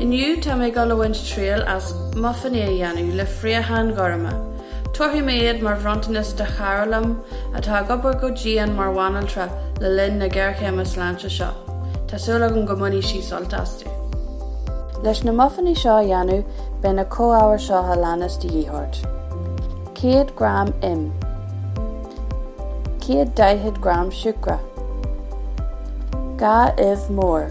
Inniu tá mé ag dul a bhaint triail as mufainní a dhéanamh le fraocháin ghorma. Tabharfaidh mé iad mar bhronntanas do chara liom atá ag obair go dian mar bhanaltra le linn na géarchéime sláinte seo. Tá súil agam go mbainfidh sí sult astu. Leis na mufainní seo a dhéanamh beidh na comhábhair seo a leanas de dhíth ort, 100 gram im, 140 gram siúcra, 2 uibh mhór,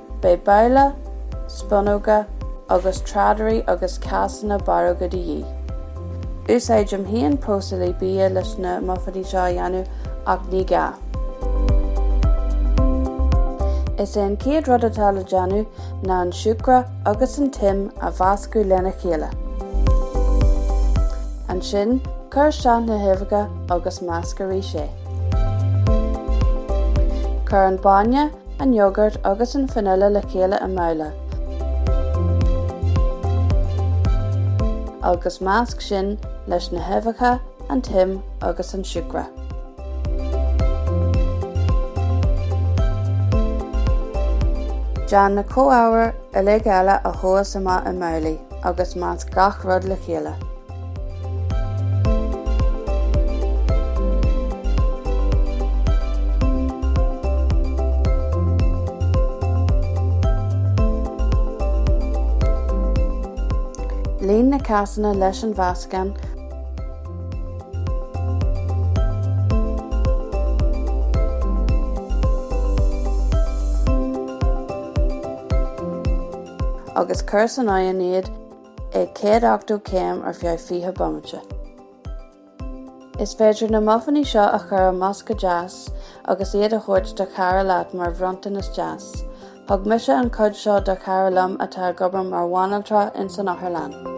Beidh babhla, spunóga agus tráidire agus cásanna barróga de dhíth. Úsáidim féin próiseálaí bia leis na mufainní seo a dhéanamh ach ní gá. Is é an chéad rud atá le déanamh ná an siúcra agus an t-im a mheascadh lena chéile. Ansin, cuir isteach na huibheacha agus measc arís é. Cuir an bainne an t-iógart agus an fanaile le chéile i mbabhla, agus measc sin leis na huibheacha, an t-im agus an siúcra. Déan na comhábhair uilig eile a thomhas amach i mbabhlaí agus measc gach rud le chéile. Líon na cásanna leis an mheascán. agus cuir san oigheann iad ag 180 céim ar feadh 20 bomaite. Is féidir na mufainní seo a chur i mbosca deas agus iad a thabhairt do chara leat mar bhronntanas deas. Thug mise an cuid seo do chara liom atá ag obair mar bhanaltra in san otharlann.